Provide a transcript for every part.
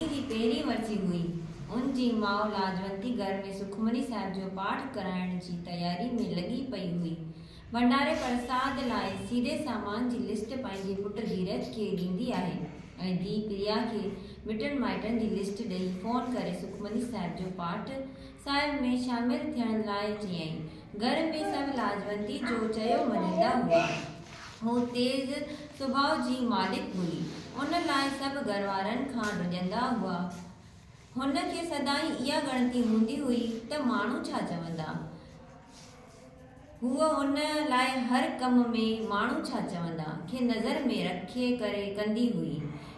جي پهرين ورسي هئي، ان جي ماء لاجونتي گهر ۾ سکمني صاحب جو پاٺ ڪرائڻ جي تياري ۾ لڳي پئي هئي. ڀنڊاري پرساد لاء سيري سامان جي لسٽ پنهنجي پٽ ڌيرج کي ڏيندي آهي ۽ ڌيء پريا کي مٽن مائٽن جي لسٽ ڏئي فون ڪري سکمني صاحب جو پاٺ صاحب ۾ شامل ٿيڻ لاء چيائين. گهر ۾ سڀ لاجونتي جو چيو مڃيندا هئا. هوء تيز سڀاء جي مالڪ هئي، ان لاء سڀ گهر وارن کان ڊڄندا هئا. هن کي سدائين اها ڳڻتي هوندي هئي ته ماڻهو ڇا چوندا؟ هوء ان لاء هر ڪم ۾ ماڻهو ڇا چوندا؟ کي نظر ۾ رکي ڪري ڪندي هئي.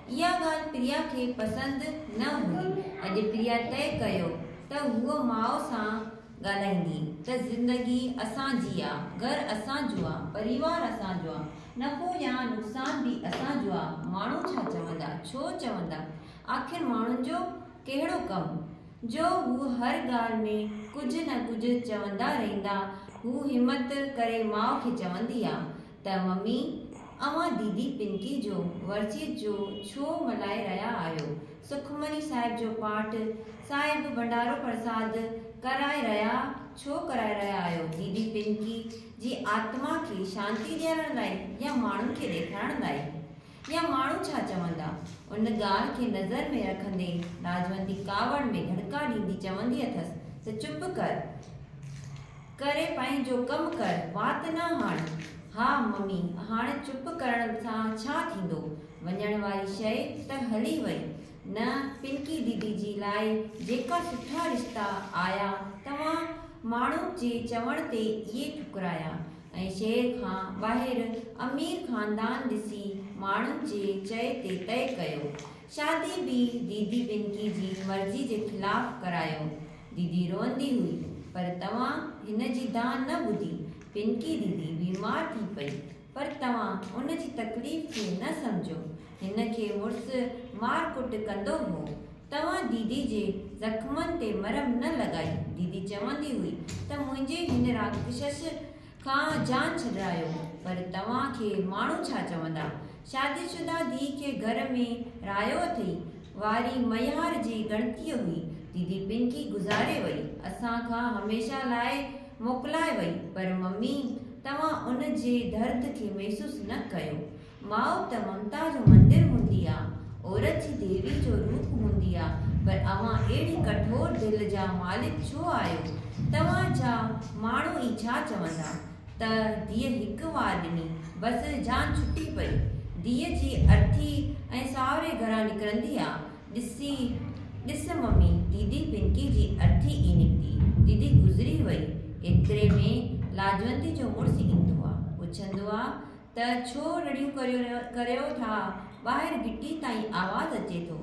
اها ڳالهه پريا کي پسند نه هئي. اڄ پريا طئي ڪيو ته هوء ماء سان ڳالهائيندي ته زندگي اسان جي آ، گهر اسان جو آ، پريوار اسان جو آ، نفعو يا نقصان به اسان جو آ، ماڻهو ڇا چوندا، ڇو چوندا، آخر ماڻهن جو ڪهڙو ڪم، جو هو هر ڳالهه ۾ ڪجهه نه ڪجهه چوندا رهندا، هو همت ڪري ماء کي چوندي آ، ته ممي اوهان ديدي پنڪي جو ورسيت جو ڇو ملهائي رهيا آهيو، سکمڻي صاحب جو پاٽ، صاحب ڀنڊارو پرساد ڪرائي رهيا ڇو ڪرائي رهيا آهيو، ديدي پنڪي جي آتما کي شانتي ڏيارڻ لاء يا ماڻهن کي ڏيکارڻ لاء؟ يا ماڻهو ڇا چوندا؟ ان ڳالهه کي نظر ۾ رکندي لاجونتي ڪاوڙ ۾ ڌڙڪا ڏيندي چوندي اٿس ته چپ ڪر ڪري پنهنجو ڪم ڪر، وات نه هاڻ. ها ممي، هاڻ چپ ڪرڻ سان ڇا ٿيندو؟ وڃڻ واري شيء ته هلي وئي نه. پنڪي ديدي جي لاء جيڪا سٺا رشتا آيا، توهان ماڻهو جي چوڻ تي اهي ٺڪرايا. ۽ شهر کان ٻاهر امير خاندان ڏسي ماڻهن جي چئي تي طئي ڪيو. شادي به ديدي پنڪي جي مرضي جي خلاف ڪرايو. ديدي روئندي هئي پر توهان هن جي دانهن نه ٻڌي. پنڪي ديدي بيمار ٿي پئي پر توهان ان جي تڪليف کي نه سمجهيو. هن کي مڙس مار ڪٽ ڪندو هو. توهان ديدي جي زخمن تي مرهم نه لڳائي. ديدي چوندي هئي ته منهنجي هن راڪشس کان جان ڇڏرايو. پر توهان کي ماڻهو ڇا چوندا؟ شادي شده ڌيء کي گهر ۾ رهايو اٿئي. واري ميهار جي ڳڻتيء هئي. ديدي پنڪي گذاري وئي. اسان کان هميشه لاء موڪلائي وئي. پر ممي توهان ان جي درد کي محسوس نه ڪيو. ماء ته ممتا جو مندر هوندي آ، عورت جي ديوي جو روپ هوندي آ، پر اوهان اهڙي ڪٺور دل جا مالڪ ڇو آهيو؟ توهان جا ماڻهو ئي ڇا چوندا؟ ته ڌيء هڪ وار ڏني، بس جان ڇٽي پئي. ڌيء جي ارٿي ۽ ساهوري گهران نڪرندي آ، ڏسي، ڏس ممي، ديدي پنڪي جي ارٿي ئي نڪتي، ديدي گذري وئي. ايتري ۾ لاجوندي جو مڙس ايندو آ، پڇندو آ، ته ڇو رڙيون ڪريو ٿا، ٻاهر گهٽي تائين آواز اچي ٿو،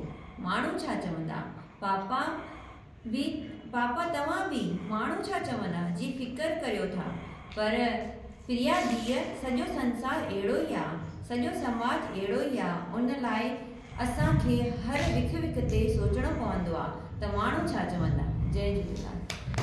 ماڻهو ڇا چوندا، پاپا به پاپا توهان به ماڻهو ڇا چوندا جي فڪر ڪريو ٿا، پر پريا ڌيء سڄو سنسار اهڙو ئي آ، سڄو سماج اهڙو ئي آ، ان لاء اسان کي هر وک وک تي سوچڻو پوندو آ ته ماڻهو ڇا چوندا. جئي جهوليلال.